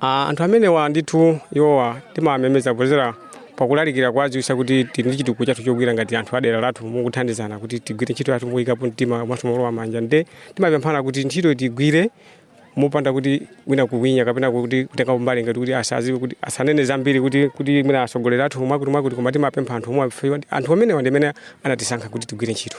Ah, anthu amenewa ndithu iwowa timawamemeza kudzera pakulalikira kuwadziwisa kuti tili ndi chitukuko chathu chogwira ngati anthu adera lathu mukuthandizana kuti tigwire ntchito yathu moyikapo mtima komanso molowa manja nde timapemphana kuti ntchito tigwire mopanda kuti wina kuwinya kapena kuti kutenga mbali ngati kuti asaziwe kuti asanene zambiri kuti kuti mwina atsogoleri athu omwe akuti mwakutimwakuti koma timapempha anthu omwewa ife kuti anthu amenewa ndi amene anatisankha kuti tigwire ntchito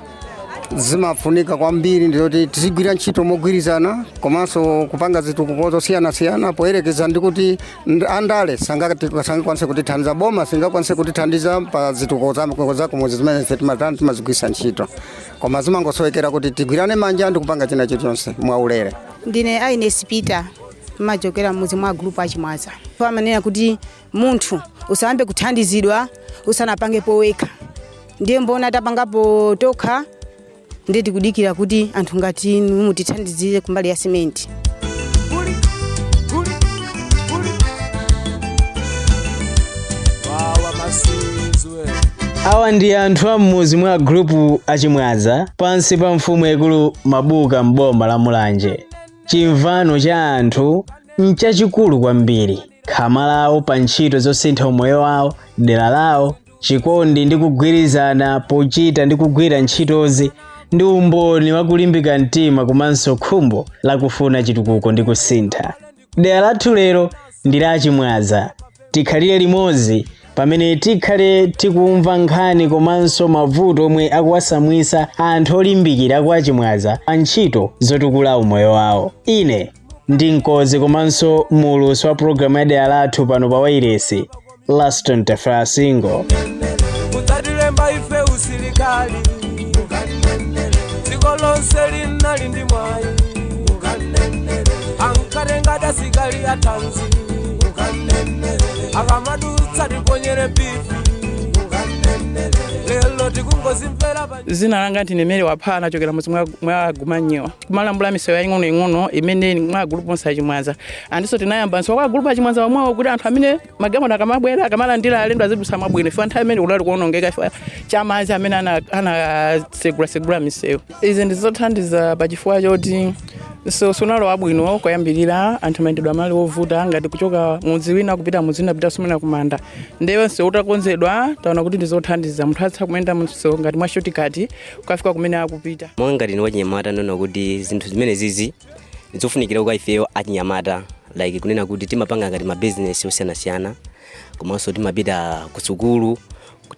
zimafunika kwambiri ndizoti tizigwira ntchito mogwirizana komanso kupanga zitukuko zosiyanasiyana poyerekeza ndi kuti nd- andale sangati- sangakwanise kutithandiza boma singakwanise kutithandiza pa zitukuko za- za kumudzi zimene ife timatani timazigwiritsa ntchito koma zimangosowekera kuti tigwirane manja ndi kupanga china chilichonse mwaulere ndine aines peter ndimachokera mudzi mwa gulupu achimwaza amanena kuti munthu usayambe kuthandizidwa usanapangepo wekha ndiye mwaona tapangapo tokha ndiye tikudikira kuti anthu ngati inu mutithandizire kumbali ya simenti awa ndi anthu a m'mudzi mwa gulupu achimwaza pansi pa mfumu yaikulu mabuka m'boma la mulanje chimvano cha anthu nchachikulu kwambiri khama lawo pa ntchito zosintha umoyo wawo dera lawo chikondi ndi kugwirizana pochita ndi kugwira ntchitozi ndi umboni wa kulimbika mtima komanso khumbo lakufuna chitukuko ndi kusintha dera lathu lero ndi la achimwaza tikhalire limodzi pamene tikhale tikumva nkhani komanso mavuto omwe akuwatsamwitsa anthu olimbikira a kwa achimwaza pa ntchito zotukula umoyo wawo ine ndi mkonzi komanso muulutsi wa pulogalamu ya dera lathu pano pa wairesi laston tafera singo mutatilemba ife usilikali dziko lonse linali ndi mwayi ankatenga asilikali atanzi akamadutsa tiponyere bifi lelo tikungozimvera pa zina langa ndine mary wapha ndachokera mudzi mwa- mwa gumanyiwa kumalambula misewu yaying'onoying'ono imene mwa gulupu onse achimwaza andiso tinayambanso kwa gulupu achimwaza wamwawo kuti anthu amene magamano akamabwera akamalandira alendo azidutsa mwabwino ife nthawi imene kudali kuonongeka ife cha madzi amene ana- anasegula-segula misewu izi ndizothandiza pa chifukwa choti so sunali wabwino koyambirira anthu mayendedwe anali ovuta ngati kuchoka mudzi wina kupita mudzi wina kupita sumina kumanda ndiye msewu utakonzedwa taona kuti ndizothandiza munthu atha kuyenda msewu ngati mwa shotikati kukafika kumene akupita monga ngati ni wachinyamata ndaona kuti zinthu zimene izi nzofunikira kwa ifeyo achinyamata like kunena kuti timapanga ngati mabizinesi osiyanasiyana komanso timapita kusukulu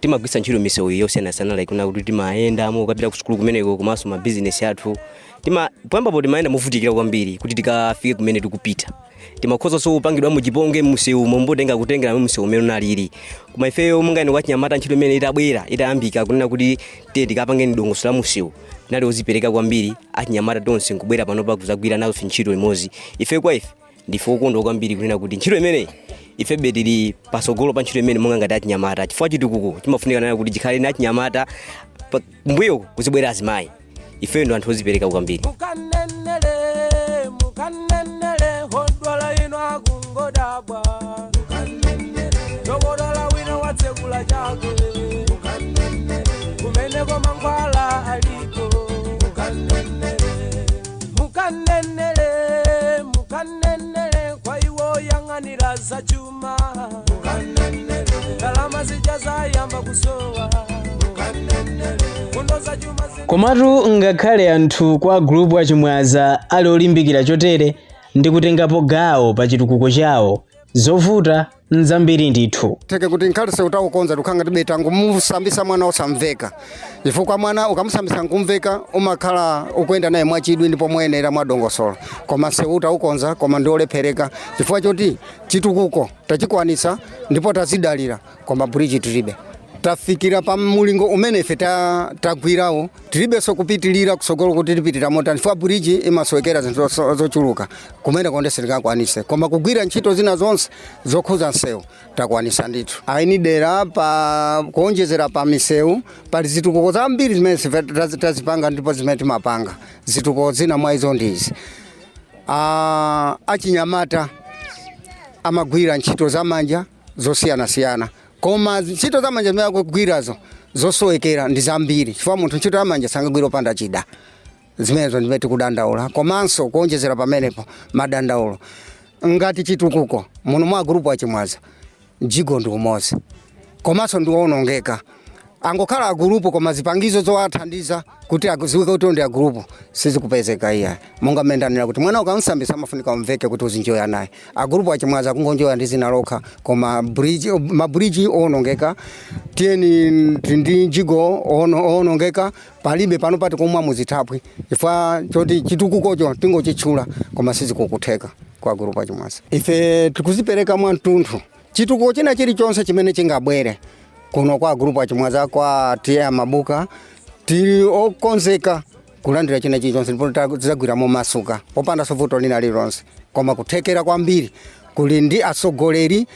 timagwiritsa ntchito misewu yosiyanasiyana like kunena kuti timayendamo kupita ku sukulu kumeneko komanso ma business athu tima poyambapo timayenda movutikira kwambiri kuti tikafike kumene tikupita timakhozanso kupangidwa chipongwe msewu mombotenga kutengera msewu mmene unalili koma ifeyo monga achinyamata ntchito imene itabwera itayambika kunena kuti tiye tikapange dongosolo la msewu tinali ozipereka kwambiri achinyamata tonse nkubwera panopa kuzagwira nazo ntchito limodzi ife kwa ife ndife okondwa kwambiri kunena kuti ntchito imeneyi ifebe tili patsogolo pa ntchito imene monga ngati achinyamata chifukwa chitukuko chimafunika kunena kuti chikhale ni achinyamata pa- mbuyo kuzibwera azimayi ife ndi anthu ozipereka kwambiri mukamunene mukamunene odwala ena akungodabwa dokotala wina watsegula chake kumeneko mankhwala aliko mukamunene mukamunene kwa iwo oyang'anira za chuma ndalama zija zayamba kusowa fundo za chuma zina komatu ngakhale anthu kwa gulupu a Chimwaza ali olimbikira chotere ndi kutengapo gawo pa chitukuko chawo zovuta nzambiri ndithu moti kuti ngakhale msewu taukonza tikhala ngatibe tangomusambitsa mwana osamveka chifukwa mwana ukamusambitsa nkumveka umakhala ukuyenda naye mwachidwi ndipo moyenera mwadongosolo koma msewu taukonza koma ndiolephereka chifukwa choti chitukuko tachikwanitsa ndipo tadzidalira koma bridge tilibe tafikira pa mulingo umene ife ta- tagwirawu tilibenso kupitirira kutsogolo kuti tipitira motani chifukwa buriji imasowekera zinthu zo- zochuluka kumene komwe sitingakwanitse koma kugwira ntchito zina zonse zokhudza msewu takwanitsa ndithu eni dera pa kuonjezera pa misewu pali zitukuko zambiri zimene ife tazi- tazipanga ndipo zimene timapanga zitukuko zina mwa izo ndi izi Ah, achinyamata amagwira ntchito zamanja zosiyanasiyana koma ntchito za manja zimene akugwirazo zosowekera ndi zambiri chifukwa munthu ntchito zamanja sangagwira opanda chida zimenezo ndimene tikudandaula komanso kuonjezera pamenepo madandaulo ngati chitukuko muno mwa agulupu a Chimwaza mjigo ndi umodzi komanso ndiwonongeka angokhala agulupu koma zipangizo zowathandiza kuti adziwike kuti ndi agulupu sizikupezeka iya monga mmene ndanena kuti mwana ukamsambisa amafunika umveke kuti uzinjoya naye agulupu achimwaza kungonjoya ndi dzina lokha koma bridge mabridge owonongeka tiyeni ndi mjigo ono- owonongeka palibe pano pati kumwa muzithaphwi chifukwa choti chitukukocho tingochitchula koma sizikukutheka kwa agulupu achimwaza ife tikuzipereka mwa mtunthu chitukuko china chilichonse chimene chingabwere kuno kwa agrupu achimwaza kwa TA Mabuka tili okonzeka kulandira china chilichonse ndipo ta- tidzagwira momasuka popanda vuto lina lililonse koma kuthekera kwambiri kuli ndi atsogoleri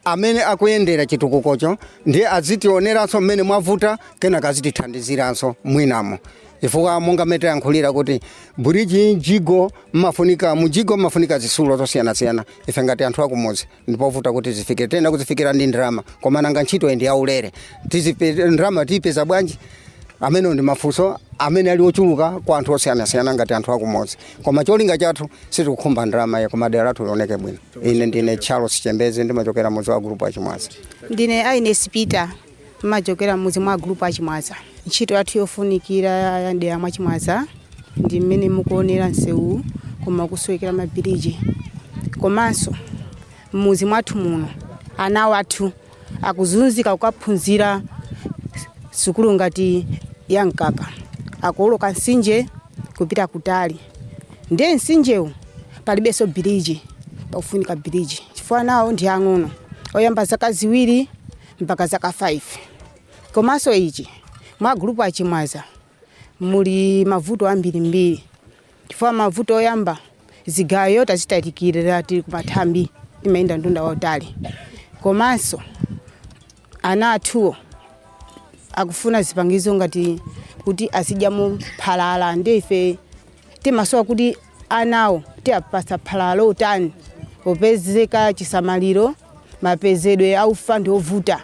amene akuyendera chitukukocho ndiye azitioneranso mmene mwavuta kenaka azitithandiziranso mwinamo chifukwa monga mmene tayankhulira kuti bridge mjigo mmafunika zisulo zosiyanasiyana ife ngati anthu akumudzi ndipovuta kuti zifikire tiyenera kuzifikira ndi ndalama koma nanga ntchito ndi yaulere Tizipe- ndalama tiyipeza bwanji amenewo ndi mafunso amene ali ochuluka kwa anthu osiyanasiyana ngati anthu akumudzi koma cholinga chathu sitikukhumba ndalama iye koma dera lathu lioneke bwino ine ndine charles chembeze ndimachokera mudzi wa gulupu achimwaza ndine aines peter Timachokera m'mudzi mwa Gulupu a Chimwaza. Ntchito yathu yofunikira ya m'dera mwa Chimwaza ndi mmene mukuonera msewuwu koma ukusowekera mabiriji. Komanso m'mudzi mwathu muno ana athu akuzunzika kukaphunzira sukulu ngati ya Mkaka. Akuwoloka mtsinje kupita kutali. Ndiye mtsinjewu palibenso biriji, pakufunika biriji chifukwa anawo ndi ang'ono oyamba zaka ziwiri mpaka zaka 5 komanso ichi mwa gulupu achimwaza muli mavuto ambirimbiri chifukwa mavuto oyamba zigayo tazitalikirira tili kumathambi timayenda mtunda wautali komanso ana athuwo akufuna zipangizo ngati kuti azidyamo phalala ndiye ife timasowa kuti Anawo tiapatsa phala lotani opezeka chisamaliro mapezedwe a ufa ndi ovuta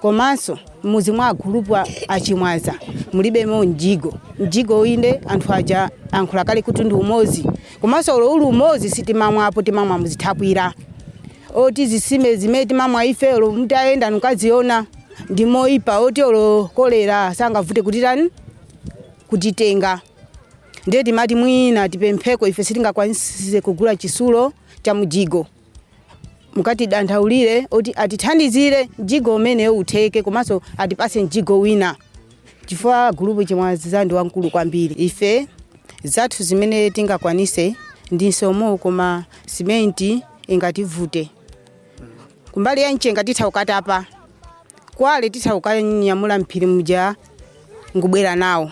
komanso m'mudzi mwa agulupu a a Chimwaza mulibemo mjigo. Mjigo inde anthu aja ankhula kale kuti ndi umodzi komanso olo uli umodzi sitimamwapo timamwa muzithaphwira oti zisime zimene timamwa ife olo mutayenda nkukaziona ndi moipa oti olo kolera sangavute kutitani kutitenga. ndiye timati mwina tipempheko ife sitingakwanise kugula chisulo cha mjigo mukatidandaulire kuti atithandizire mjigo umene utheke komanso atipatse mjigo wina chifukwa gulupu chimwaza ndi wamkulu kwambiri ife zathu zimene tingakwanise ndi nsomo koma simenti ingativute kumbali ya mchenga titha kukatapa kwale titha kukanyamula mphiri muja ngubwera nawo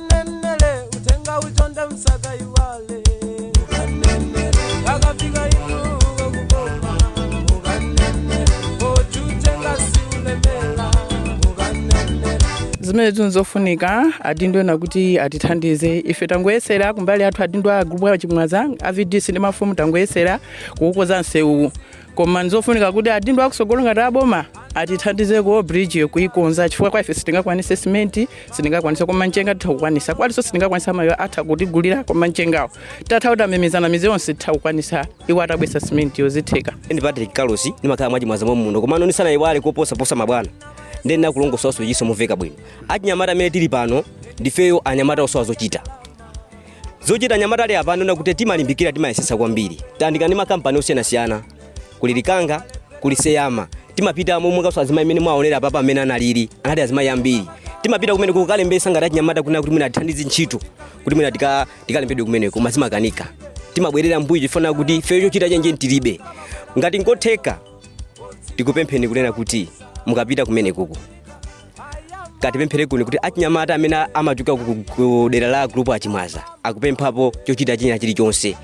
mukanenele mtenga utonde musakaiwale mukafika ifuko kukoma poti utenga siulemela zimene zinzofunika adindo ena kuti atithandize ife tangoyesera kumbali yathu adindo a gulupu a chimwaza a vdc ndi mafumu tangoyesera kuwukonza msewuwu koma nzofunika kuti adindo akusogolo ngati aboma atithandize ku bridge kuikonza chifukwa kwa ife sitingakwanise simenti sitingakwanise koma mchenga titha kukwanisa kwalinso sitingakwanise amayo atha kutigulira koma mchengawo tatha kuti timemezana mizi yonse titha kukwanisa iwo atabwesa simenti iyo zitheka ndine patrick carlos ndimakhala mwachimwaza mwa muno komano ndisanaiwale koposaposa mabwana ndiye ndinakulongosola zoti zizimveka bwino achinyamata amene tili pano ndifeyo anyamata osowa zochita zochita anyamata alipa pano nakuti timalimbikira timayesesa kwambiri tayandikana ndi makampani osiyanasiyana kuli likanga kuli seyama timapita momwe kaso azimayi mmene mwaonera apapa amene analili anali azimayi ambiri timapita kumene kukalembesa ngati achinyamata kuna kuti mwina atithandize ntchito kuti mwina tika- tikalembedwe kumeneko koma zimakanika timabwerera mbuyo chifukwa choti ifeyo chochita chenicheni tilibe ngati nkotheka tikupempheni kunena kuti mukapita kumenekuko katipemphere kunena kuti achinyamata amene amachokera ku- ku- ku dera la group achimwaza akupemphapo chochita china chilichonse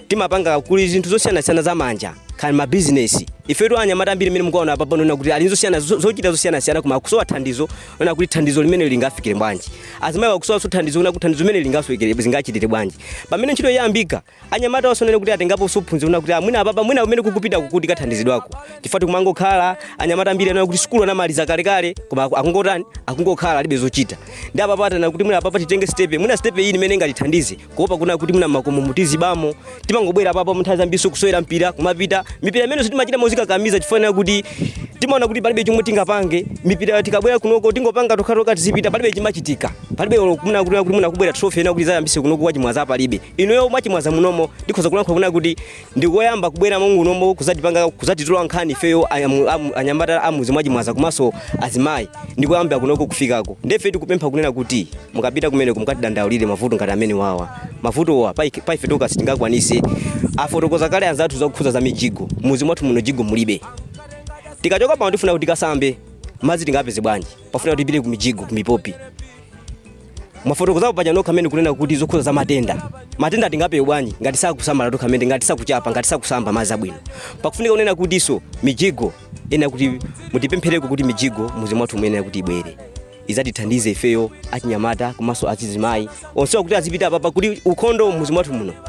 timapanga kuli zinthu zosiyanasiyana za manja kaya ndi mabizinesi ifetu anyamata ambiri mmene mukuwaona apa pano kuti ali ndi zosiyana zo- zochita zosiyanasiyana koma akusowa thandizo kuona kuti thandizo limene lingafikire bwanji azimayi akusowanso thandizo kuona kuti thandizo limene lingafikire zingachitire bwanji pamene ntchito yayambika anyamata onse kunena kuti atengapo zophunzira kunena kuti mwina apapa mwina kumene kukupita kukatithandizidwako chifukwa tikumangokhala anyamata ambiri kunena kuti sukulu anamaliza kalekale koma aku- akungotani akungokhala alibe zochita ndiye apapa taona kuti mwina apapa titenge stepe mwina stepe iyi imene ingatithandize kuopa kunena kuti mwina m'makomomu tizibamo timangobwera apapa munthawi zambiri kusewera mpira kumapita mipira imeneso timachita mozikakamiza chifukwa chonena kuti timaona kuti palibe chomwe tingapange mipira tikabwera kunoko tingopanga tokhatoka tizipita palibe chimachitika palibe kunena kuti kuti mwina kubwera trophy ina kuti azayambise kunoko kwa chimwaza palibe inuyo mwachimwaza munomo ndikhoza kulankhula kunena kuti ndikoyamba kubwera mngunomo kuzatipanga kuzatitola nkhani ifeyo ayamu- amu- anyamata amuzi mwachimwaza komanso azimayi ndikoyamba kunoko kufikako nde ife tikupempha kunena kuti mukapita kumeneko mukatidandaulire mavuto ngati amenewawa mavutowa paike- paife tokha sitingakwanise afotokoza kale anzathu zokhudza za mijigo mmuzi mwathu muno mjigo mulibe tikachoka pano tifuna kuti tikasambe madzi tingapeze bwanji pafunika kuti tipite ku mijigo ku mipopi mwafotokozapo paja nokha amene kunena kuti zokhuza za matenda matenda tingapewe bwanji ngati sakusamala tokha amene ngati sakuchapa ngati sakusamba madzi abwino pakufunika kunena kutinso mijigo ena kuti mutipemphereko kuti mijigo muzi mwathu muyenera kuti ibwere izatithandize ifeyo achinyamata komanso azizimayi onsewa kuti azipita apapa kuti ukhondo muzi mwathu muno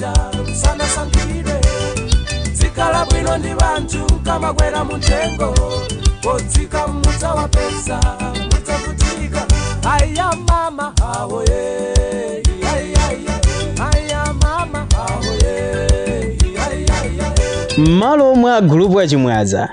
ja sanasankhidwe zikhala bwino ndi banthu kamakwera muthengo kodzika mmudza wapesa mudzavutika aya mama awo ye aya mama awo ye m'malo mwa agulupu achimwaza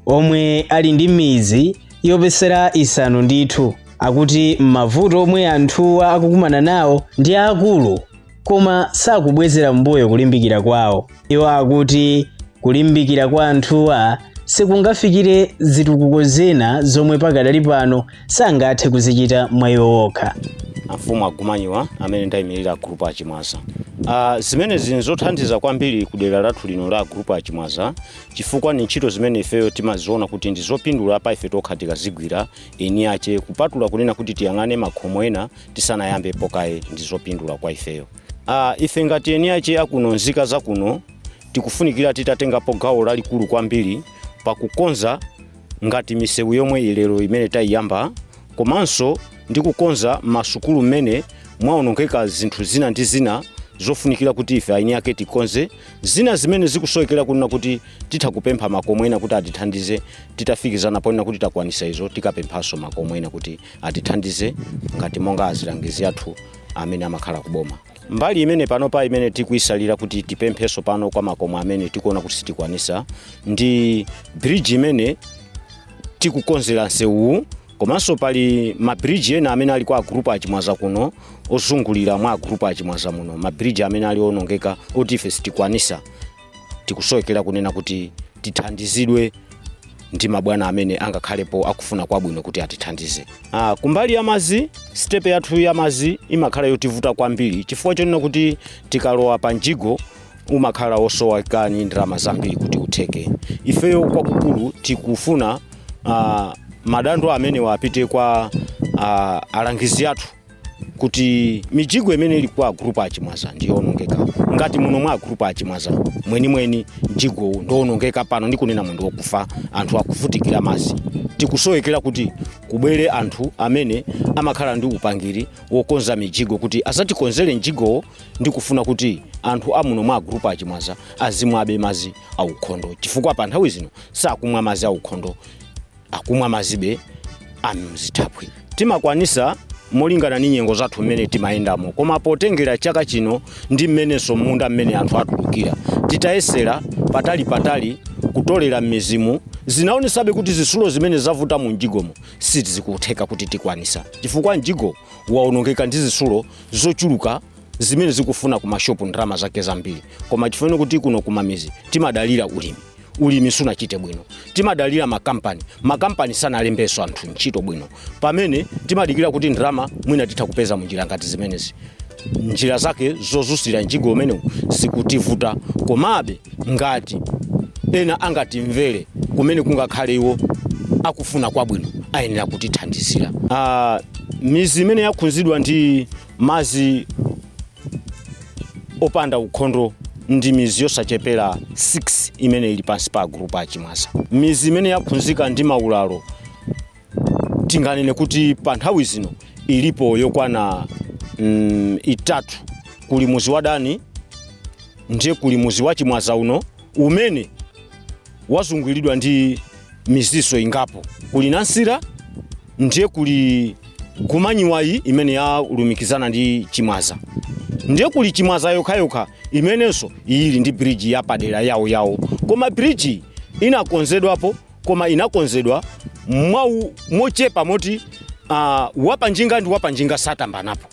omwe ali ndi mizi yoposera isanu ndithu akuti mavuto omwe anthuwa akukumana nawo ndi akulu koma sakubwezera mbuyo kulimbikira kwawo. Iwo akuti kulimbikira kwa anthuwa sikungafikire zitukuko zina zomwe pakadali pano sangathe kuzichita mwa iwo okha. amfumu agumanyiwa amene ndayimirira agrupu achimwaza uh, zimenezi nzothandiza kwambiri ku dera lathu lino la agrupu achimwaza chifukwa ni ntchito zimene ifeyo timaziona kuti ndi zopindula pa ife tokha tikazigwira eni ache kupatula kunena kuti tiyang'ane makhomo ena tisanayambepo kaye ndi zopindula kwa ifeyo uh, ife ngati eni ache akuno nzika zakuno tikufunikira titatengapo gawo lalikulu kwambiri pakukonza ngati misewu yomweyi lero imene tayiyamba komanso ndi kukonza masukulu mmene mwaonongeka zinthu zina ndi zina zofunikira kuti ife aeni ake tikonze zina zimene zikusowekera kunena kuti titha kupempha makomo ena kuti atithandize titafikizana ponena kuti takwanisa izo tikapemphanso makomo ena kuti atithandize ngati monga azilangizi athu amene amakhala ku boma mbali imene panopa imene tikuisalira kuti tipempheso pano kwa makomo amene tikuona kuti sitikwanisa ndi bridge imene tikukonzera msewuwu komanso pali mabridge ena amene ali kwa agrupu achimwaza kuno ozungulira mwa agrupu achimwaza muno mabridge amene ali onongeka oti ife sitikwanisa tikusowekera kunena kuti tithandizidwe ndi mabwana amene angakhalepo akufuna kwabwino kuti atithandize ah, kumbali ya madzi sitepe yathu ya madzi imakhala yotivuta kwambiri chifukwa chonena kuti tikalowa pa mjigo umakhala osoweka ni ndalama zambiri kuti utheke ifeyo kwakukulu tikufuna ah, madando amenewa apite kwa ah, alangizi athu kuti mijigo imene ili kwa agrupu achimwaza ndiyoonongeka ngati muno mwa agrupu achimwaza mwenimweni mjigowu ndowonongeka pano ndikunena muno ndowokufa anthu akuvutikira madzi tikusowekera kuti kubwere anthu amene amakhala ndi upangiri wokonza mijigo kuti azatikonzere mjigowo ndikufuna kuti anthu amuno mwa agrupu achimwaza azimwabe madzi aukhondo chifukwa pa nthawi zino sakumwa madzi aukhondo akumwa mazibe amzithaphwi timakwanisa molingana ni nyengo zathu mmene timayendamo koma potengera chaka chino ndi mmenenso munda mmene anthu atulukira titayesera patali patali kutolera mmizimu zinaonesabe kuti zisulo zimene zavuta mu mjigomo sizikutheka kuti tikwanisa chifukwa mjigo waonongeka ndi zisulo zochuluka zimene zikufuna ku mashopu ndalama zake zambiri koma chifukwa choti kuno kumamizi timadalira ulimi ulimi sunachite bwino timadalira makampani makampani sanalembenso anthu ntchito bwino pamene timadikira kuti ndalama mwina titha kupeza munjira ngati zimenezi njira zake zozusira mjigo umenewu zikutivuta komabe ngati ena angatimvere kumene kungakhale iwo akufuna kwabwino ayenera kutithandizira uh, mizi imene yakhunzidwa ndi mazi opanda ukhondo ndi mizi yosachepera 6 imene ili pansi pa agulupu achimwaza mizi imene yakhunzika ndi maulalo tinganene kuti pa nthawi zino ilipo yokwana mm, itatu kuli muzi wa dani ndiye kuli muzi wa chimwaza uno umene wazunguliridwa ndi miziso ingapo kuli nansira ndiye kuli gumanyiwayi imene yalumikizana ndi chimwaza ndiye kuli chimwaza yokhayokha imenenso iyili ndi biriji yapadera yawo yawo koma biriji inakonzedwapo koma inakonzedwa mwau mochepa moti uh, wapanjinga ndi wapanjinga saphambanapo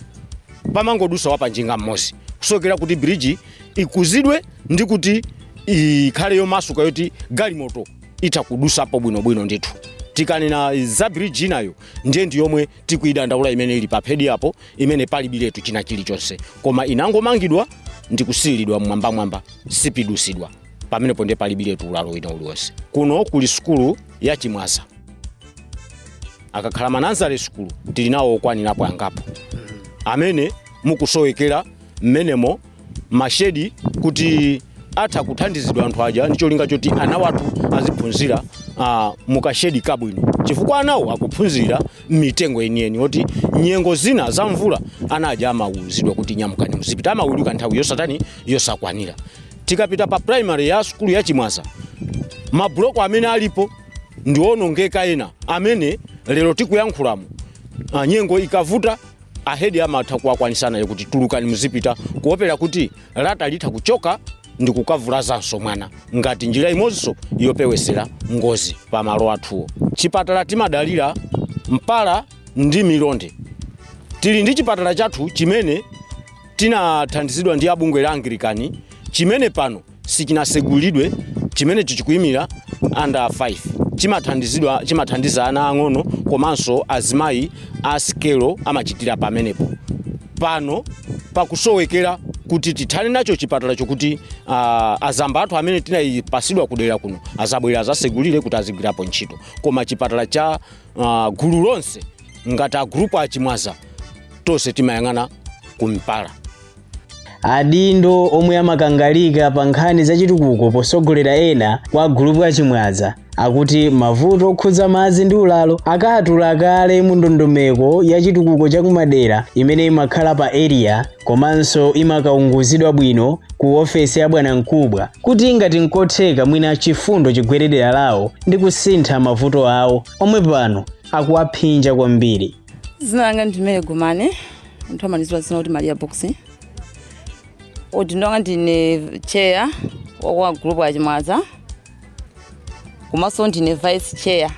pamangodusa wapanjinga mmozi kusowekera kuti biriji ikuzidwe ndi kuti ikhale yomasuka yoti galimoto itha kudusapo bwinobwino ndithu tikanena za bridge inayo ndiye ndi yomwe tikuyidandaula imene ili pa phedi apo imene palibiretu china chilichonse koma inangomangidwa ndi kusiyiridwa mmwambamwamba sipidusidwa pamenepo ndiye palibiretu ulalo wina uliwonse kuno kuli sukulu ya chimwaza akakhala manazale sukulu tili nawo okwanirapo angapo amene mukusowekera mmenemo mashedi kuti atha kuthandizidwa anthu aja ndi cholinga choti ana wathu aziphunzira uh, mukashedi kabwino chifukwa anawo akuphunzira mmitengo yeniyeni oti nyengo zina za mvula ana aja amawuzidwa kuti nyamukani muzipita amaweluka nthawi yosatani yosakwanira tikapita pa primary ya sukulu ya chimwaza mabuloko amene alipo ndiwonongeka ena amene lero tikuyankhulamo uh, nyengo ikavuta ahedi amatha kuwakwanisana kuti tulukani muzipita kuopera kuti lata litha kuchoka ndi kukavulazanso mwana ngati njira imodzinso yopewesera ngozi pa malo athuwo chipatala timadalira mpala ndi milonde tili ndi chipatala chathu chimene tinathandizidwa ndi abungwe la angilikani chimene pano sichinasegulidwe chimene chichikuimira under 5 chimathandiza ana ang'ono komanso azimayi a sikelo amachitira pamenepo pano pakusowekera kuti tikhale nacho chipatala chokuti uh, azamba athu amene tinayipatsidwa kudera kuno azabwere azasegulire kuti azigwirapo ntchito koma chipatala cha uh, gulu lonse ngati a gulupu achimwaza tonse timayang'ana ku Mpala adindo omwe amakangalika pa nkhani zachitukuko potsogolera ena kwa gulupu achimwaza akuti mavuto okhudza madzi ndi ulalo akatula kale mu ndondomeko ya chitukuko cha kumadera imene imakhala pa area komanso imakaunguzidwa bwino ku ofesi ya bwanamkubwa kuti ngati nkotheka mwina chifundo chigwere dera lawo ndi kusintha mavuto awo omwe pano akuwaphinja kwambiri dzina langa ndi Mary Gumane anthu amandidziwa dzina kuti maria box udindo wanga ndine chair wa group achimwaza komanso ndine vice chair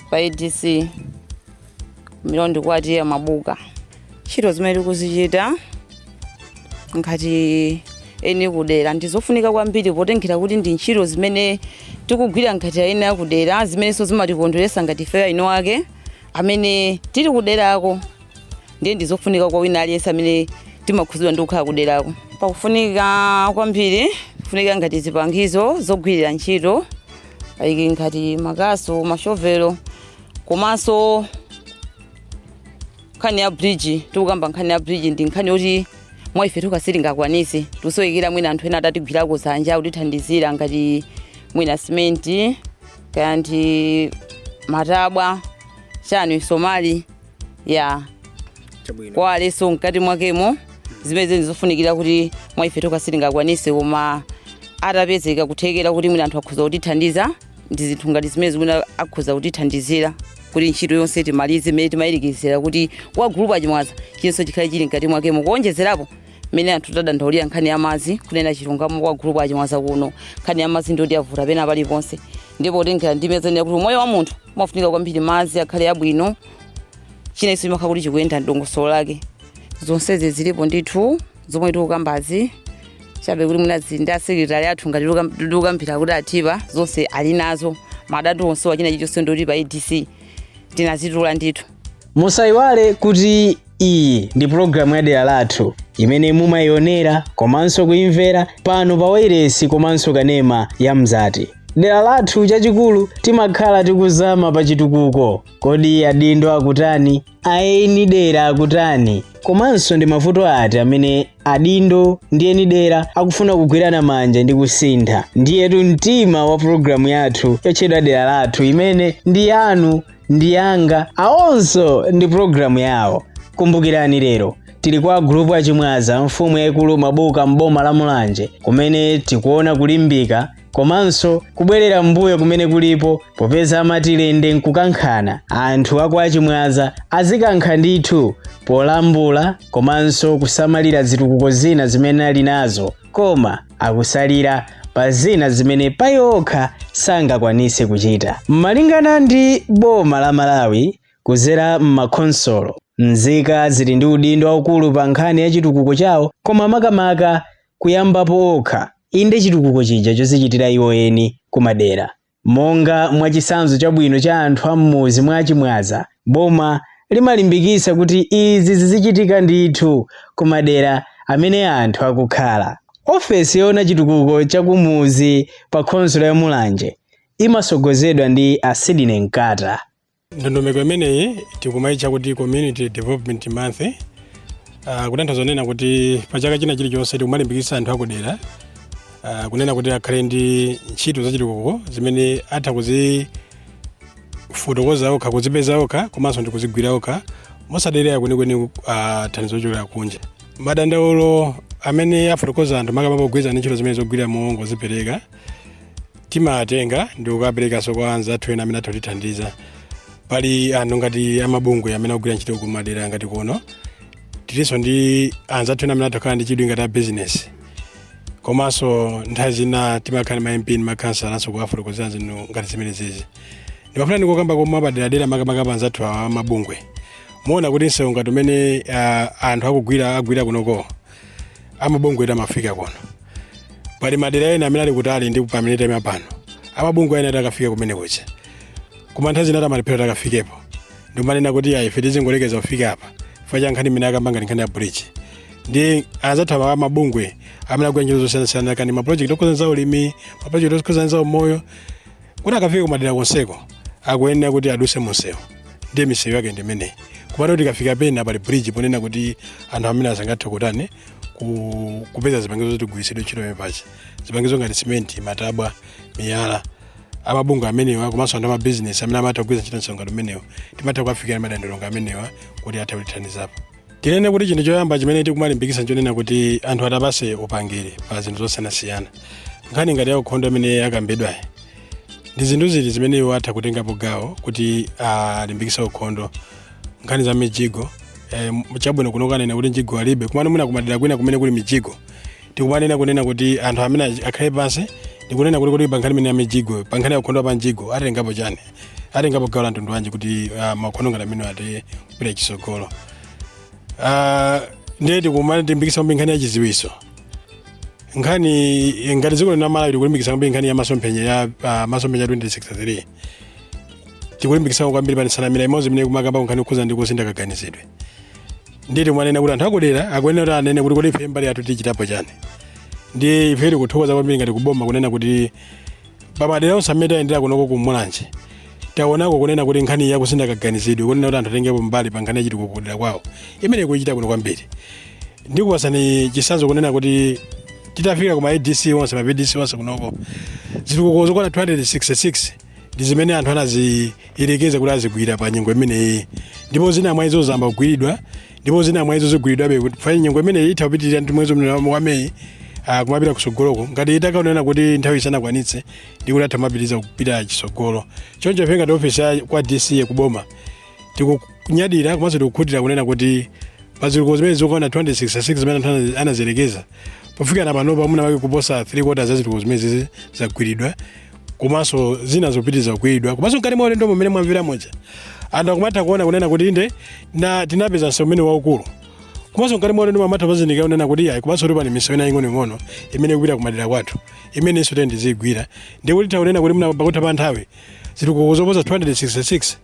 pa adc Milonde kwa TA Mabuka ntchito zimene tikuzichita ngati eni kudera ndizofunika kwambiri potengera kuti ndi ntchito zimene tikugwira ngati eni akudera zimenenso zimatikondweresa ngati ife eni ake amene tili kuderako ndiye ndizofunika kwa wina aliyense amene timakhuzidwa ndi kukhala kuderako pakufunika kwambiri kufunika ngati zipangizo zogwirira ntchito like ngati makasu mashovelo komanso nkhani ya bridge tikukamba nkhani ya bridge ndi nkhani yoti mwa ife tokha sitingakwanise tikusowekera mwina anthu ena atatigwirako dzanja kutithandizira ngati mwina simenti kaya ndi matabwa chani misomali ndi zonse mkati mwakemo zimenezi ndi zofunikira kuti mwa ife tokha sitingakwanise koma atapezeka kuthekera kuti mwina anthu akhoza kutithandiza ndi zinthu ngati zimene zimene akhoza kutithandizira kuti ntchito yonse timalize imene timayembekezera kuti kwa gulupu achimwaza chinachonse chikhale chili mkati mwakemo kuonjezerapo mmene anthu tadandaulira nkhani ya madzi kunena chilungamo kwa gulupu achimwaza kuno nkhani ya madzi ndiyoti yavuta pena paliponse ndipo kutengera ndi zimene zanenedwa kuti umoyo wa munthu umafunika kwambiri madzi akhale abwino chinachonse chimakhala kuti chikuyenda mdongosolo lake zonsezi zilipo ndithu zomwe tikukambazi chabe kuti mwina zili ndi asekretari athu ngati tikukambira kuti alipo zonse ali nazo madatu onse wachina chichonse ndoti pa adc tinazitula ndithu musayiwale kuti iyi ndi pulogalamu ya dera lathu imene mumayionera komanso kuimvera pano pa wailesi komanso kanema ya mzati dera lathu chachikulu timakhala tikuzama pa chitukuko kodi adindo akutani aeni dera akutani komanso ndi mavuto ati amene adindo ndi eni dera akufuna kugwirana manja ndi kusintha ndiyetu mtima wa pulogalamu yathu yotchedwa dera lathu imene ndi yanu ndi yanga awonso ndi pulogalamu yawo kumbukirani lero tili kwa gulupu achimwaza mfumu yayikulu mabuka m'boma la mulanje kumene tikuona kulimbika komanso kubwerera mbuyo kumene kulipo popeza amati lende nkukankhana anthu a kwa achimwaza azikankha ndithu polambula komanso kusamalira zitukuko zina zimene ali nazo koma akusalira pa zina zimene paokha sangakwanise kuchita. Malingana ndi boma la Malawi kuzera m'makhonsolo, nzika zili ndi udindo waukulu pa nkhani ya chitukuko chawo koma makamaka kuyambapo okha, inde chitukuko chija chozichitira iwo eni kumadera. Monga mwa chisanzo chabwino cha anthu a m'muzi mwa a Chimwaza, boma limalimbikisa kuti izi zizichitika ndithu ku madera amene anthu akukhala. Ofesi yoona chitukuko cha ku muzi pa khonsolo ya Mulanje imasogozedwa ndi a Sidney Nkata. ndondomeko imeneyi tikumaitcha kuti community development month uh, kutanthauza kunena kuti pa chaka china chilichonse tikumalimbikitsa anthu akudera uh, kunena kuti akhale ndi ntchito zachitukuko zimene atha kuzifotokoza okha kuzipeza okha komanso ndi kuzigwira okha mosadalira kwenikweni uh, thandizo lochokera kunja madandaulo amene afotokoza anthu makamaka pogwirizana ndi ntchito zimene zogwira mongozipereka timatenga ndikukaperekanso kwa anzathu ena amene atha kutithandiza pali anthu ngati amabungwe amene akugwira ntchito kumadera ngati kuno tilinso ndi anzathu ena amene atha kukhala ndi chidwi ngati a business komanso nthawi zina timakhala ndi ma mp ndi makhansalanso kuwafotokozera zinthu ngati zimenezizi ndimafuna ndikokomeze mwapaderadera makamaka pa anzathu awa amabungwe muwona kuti msewu ngati umene ah, anthu akugwira agwira kunoko amabungwe ena amafika kuno pali madera ena amene ali kutali ndi pamene tayima pano amabungwe ena sakafika kumene kuja koma nthawi zina amalephera akafikepo ndi kumanena kuti ayi ife tizingolekeza kufika apa chifukwa cha nkhani imene akamba ngati nkhani ya bridge ndi anzathu awa amabungwe amene akugwira ntchito zosiyanasiyana kaya ndi mapulojekiti okhudza za ulimi mapulojekiti okhudza za umoyo kuti akafika kumadera konseko akuyenera kuti aduse munsewu ndiye misewu yake ndi imeneyi kumapeza kuti ikafika pena pali bridge ponena kuti anthu amene sangathe kutani ku- kupeza zipangizo zoti zigwiritsidwe ntchito pepachi zipangizo ngati simenti matabwa miyala amabungwe amenewa komanso anthu amabizinesi amene amatha kugwiritsa ntchito msewu umenewu timatha kuwafikira madandaulo amenewa kuti athe kutithandizapo tinene kuti chinthu choyamba chimene tikumalimbikitsa nchonena kuti anthu atapatsidwa upangiri pa zinthu zosiyanasiyana nkhani ngati ya ukhondo imene yakambidwayi ndi zinthu ziti zimene iwo atha kutengapo gawo kuti alimbikitse ukhondo nkhani za mijigo eh, chabwino kuno kanena kuti mjigo alibe komano mwina kumadera kwina kumene kuli mijigo tikumanena kunena kuti anthu amene achi- akhale pansi ndikunena kuti kuti pa nkhani imene ya mijigo pa nkhani ya ukhondo pa mjigo atengapo chani atengapo gawo la mtundu wanji kuti ah, maukhondo ngati amenewa athe kupita chisogolo Ah, ndiye tikumalimbikisa kwambiri nkhani ya chiziwiso nkhani ngati dziko lino la malawi tikulimbikisa kwambiri nkhani ya masomphenya ya ah, masomphenya 2063 tikulimbikisako kwambiri pa nsanamira imodzi imene ikumakamba nkhani yokhuza ndi kusintha kaganizidwe ndiye timanena kuti anthu akudera akuyenera kuti anene kuti kodi ife mbali yathu tichitapo chani ndiye ife tikuthokoza kwambiri ngati kuboma kunena kuti pamadera onse amene tayendera kunoko ku mulanje taonako kunena kuti nkhani yakusintha kaganizidwe kunena kuti anthu atengepo mbali pa nkhani yachitukuko kudera kwawo imeneyi ikuchitika kuno kwambiri ndikupatsani chitsanzo kunena kuti titafika kuma adc onse ma vdc onse kunoko zitukuko zokwana 266 ndi zimene anthu anaziyerekeza kuti azigwira pa nyengo imeneyi ndipo zina mwa izo zayamba kugwiridwa ndipo zina mwa izo zigwiridwabe kuti pa nyengo imeneyi itha kupitirira ndi mwezi umenewu wa May ah, kumapita kusogoloko ngati itakaonera kuti nthawi isanakwanitse ndi kuti atha kumapitiriza kupita chisogolo choncho ife ngati ofesi ya- kwa dc kuboma tikunyadira komanso tikukhutira kunena kuti pazitukuko zimene zokwana 266 zimene anthu ana- anaziyerekeza pofikira panopa mwina wake kuposa 3 kota za zitukuko zimenezizi zagwiridwa komanso zina zikupitiriza kugwiridwa komanso mkati mwa ulendo mmene mwamvera muja anthu akumatha kuona kunena kuti inde na tinapeza msewu umene waukulu komanso mkati mwa ulendo akumatha kuzindikira kunena kuti yayi komanso kuti pali misewu ina ing'onoing'ono imene ikupita kumadera kwathu imenenso tiyeni tiziyigwira ndiye kuti tawonena kuti mwina pakutha pa nthawi zitukuko zoposa 266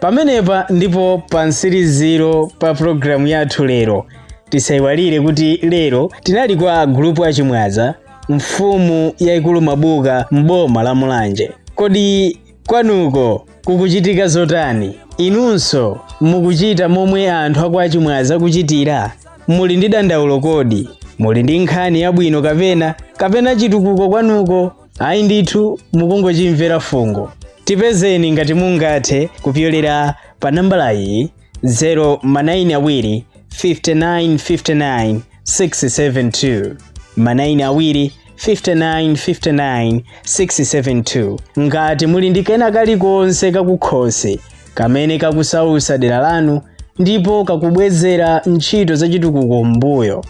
pamenepa ndipo pa mtsiriziro pa pulogalamu yathu lero tisayiwalire kuti lero tinali kwa gulupu achimwaza mfumu yayikulu mabuka m'boma la mulanje kodi kwanuko kukuchitika zotani inunso mukuchita momwe anthu akwa achimwaza akuchitira muli ndi dandaulo kodi muli ndi nkhani yabwino kapena kapena chitukuko kwanuko ayi ndithu mukungochimvera fungo tipezeni ngati mungathe kupyolera pa nambala iyi 0 manayini awiri 5959 672 manayini awiri 5959 672 ngati muli ndi kena kalikonse kakukhosi kamene kakusausa dera lanu ndipo kakubwezera ntchito zachitukuko m'mbuyo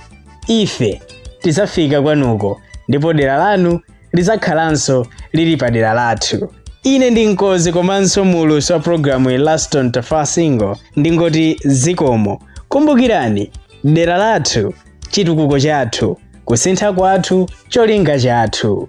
ife tidzafika kwanuko ndipo dera lanu lidzakhalanso lili pa dera lathu ine ndi mkozi komanso mulusi wa programuyi laston tafasingo ndingoti zikomo kumbukirani dera lathu chitukuko chathu kusintha kwathu cholinga chathu